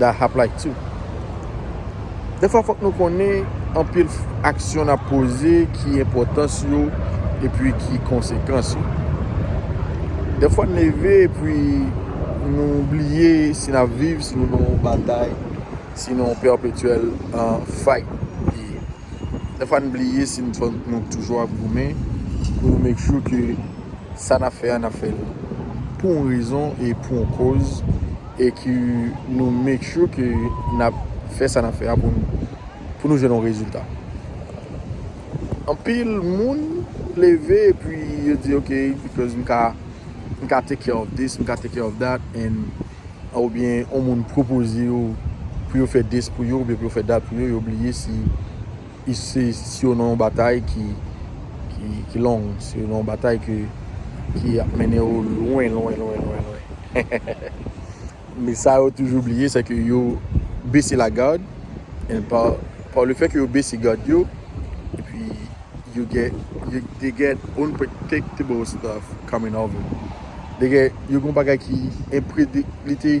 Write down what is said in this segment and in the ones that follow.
Da hap like too. Defwa fòk nou konnen anpil aksyon nap poze ki enpòtans yo epi ki konsekans yo. Defwa n leve epi nou bliye si nap viv, si nou nan yon batay, si nan yon perpetuel fight. Defwa n bliye si nou toujou ap goumen pou nou make sure ke sa nap fè a nap fè l pou yon rezon e pou yon koz. E ke nou make sure ke nap fè sa nap fè a pou nou pou nou jwenn yon rezilta. Anpil moun leve epi yo di ok because m ka m ka take care of this, m ka take care of that and oubyen yon moun pwopoze yo pou yo fè this pou yo oubyen pou yo fè that pou yo, yo bliye si Se sou nan yon batay ki long, se nan yon batay ki ap mennen ou lwen, lwen, lwen, lwen, lwen. Men sa yo toujou bliye, se ke yo bese la gad, e pa le fè ke yo bese gad yo, e pi yo gen, they get unpredictable stuff coming over. Yo gen yon bagay ki enprediktlite.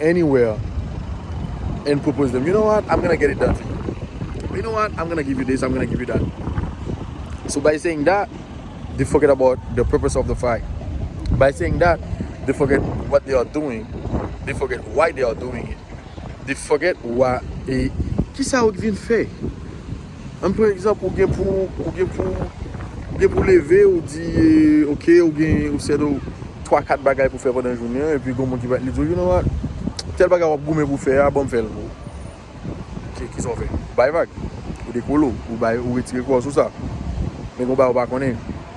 anywhere and propose them you know what I'm gonna get it done for you you know what I'm gonna give you this I'm gonna give you that so by saying that they forget about the purpose of the fight by saying that they forget what they are doing they forget why they are doing it they forget why kisa ou t vin fè An pran egzanp ou gen pou ou gen pou ou gen pou w leve ou di ok ou gen ou set ou 3 4 bagay pou fè pandan jounen an epi gon moun ki va li di w you know what tèl bagay wap goumen pou fè a banm fè l pou ou ok kisa w fè ou bay vag ou dekole w ou bay ou retire kò w sou sa men gon bagay ou pa konnen.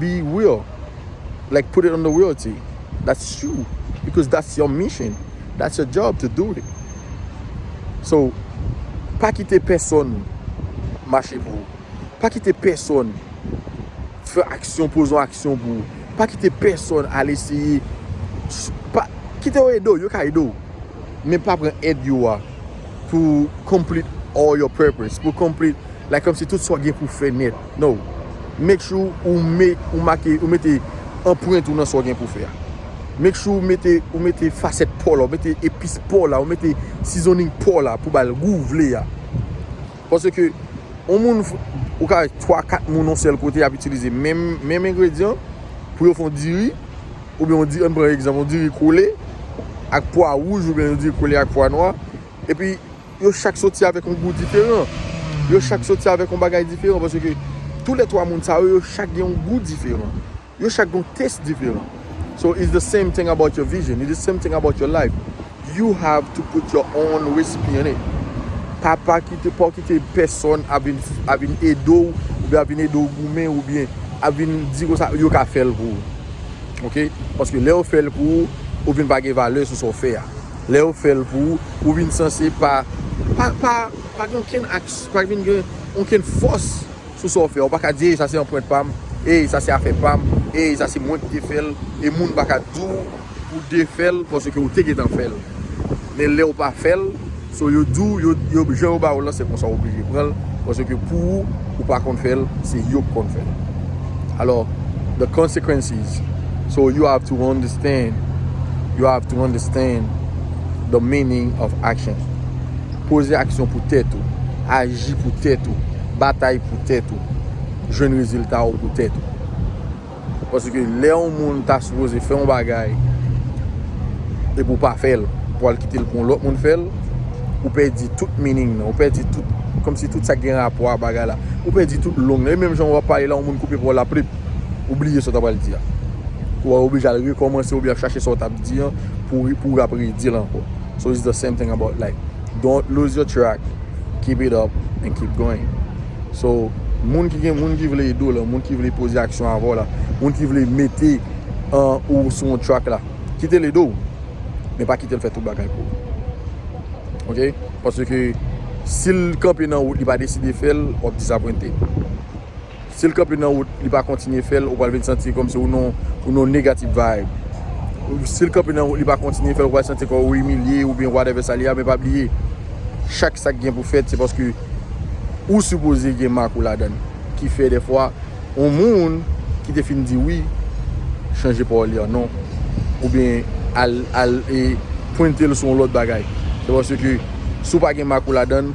be real like put it on the reality that's true because that's your mission that's your job to do it so pa kite pèsòn mache pou ou pa kite pèsòn fè aksyon poze yon aksyon pou ou pa kite pèsòn al eseye pa kite yo ede w yo ka ede w men pa pran èd yo a pou complete all your purpose pou complete like kòmsi tout sa w gen pou fè nèt. No. Make sure ou me ou make ou mete anprent ou nan sa w gen pou w fè a. Make sure ou mete ou mete fasèt paw la, ou mete epis paw la, ou mete seasoning paw la pou bal gou w vle a. Pase ke on moun ou ka wè 3, 4 moun on sèl kote y ap itilize menm menm engredyan pou yo fè on diri oubyen on di an pran egzanp on diri kole ak pwa wouj oubyen on diri kole ak pwa nwa. Epi yo chak soti avèk yon gou diferan. Yo chak soti avèk yon bagay diferan. Pase ke tou lè 3 moun sa yo, yo chak gen yon gou diferan. Yo chak gen yon test diferan. So it's the same thing about your vision. It's the same thing about your life. You have to put your own recipe in it. Pa pa kite, pa w kite pèsòn ap vin, ap vin ede w, oubyen ap vin ede w goumen, oubyen ap vin di konsa yo ka fè l pou ou. Ok? Paske lè yo fè l pou ou, ou vin pa gen valè sou sa w fè a. Lè yo fèl pou ou, ou vin sanse pa gen okenn aksyon, pa vin gen okenn fòs sou sa w fè. Ou pa ka di, ey sa se anprent pa m, ey sa se afè pa m, ey sa se mwen ki te fè l. E moun pa ka di w pou w defè l paske ou te gentan fè l. Men lè ou pa fè l, so yo di w, jan yo ba ou l lan se konsa w oblije pran l paske pou ou, ou pa konn fè l, se yo ki konn fè l. Alò, the consequences. So you have to understand You have to understand The meaning of action Poze aksyon pou tèt ou Aji pou tèt ou Batay pou tèt ou Jwenn rezilta ou pou tèt ou Paske lè yon moun ta sipoze fè yon bagay Epi ou pa fèl Pou al kitel pou yon lòt moun fèl Ou pèdi tout meaning nan Ou pèdi tout Kòmsi tout sa gen rapò a bagay la Ou pèdi tout long nan E menm jan wap pale la yon moun koupe paw la plip Ou bliye sa w ta pral di a. Ou a oblije al rekòmanse oubyen ap chache sa w tap di an pou ou ap redi l ankò. So it's the same thing about life. Don't lose your track, keep it up and keep going. So, moun ki gen, moun ki vle ede w la, moun ki vle poze aksyon avè w la, moun ki vle mete ou sou yon track la, kite l ede w, men pa kite l fè tout bagay pou ou. Ok? Paske si l kanpe nan wout li pa deside fè l, w ap disapwente. Si l kanpe nan wout, li pa kontinye fè l, ou pral vin santi kòmsi ou nan yon negative vibe. Si l kanpe nan wout, li pa kontinye fè l, ou pral santi kò ou imilye oubyen whatever sa li a, men pa bliye, chak sa ki gen pou fèt se paske ou sipoze gen mak ou ladan l. Ki fè dèfwa yon moun ki te fin di wi, chanje pawòl li an non, oubyen al, al e pwente l sou yon lòt bagay. Se paske si w pa gen mak ou ladan l.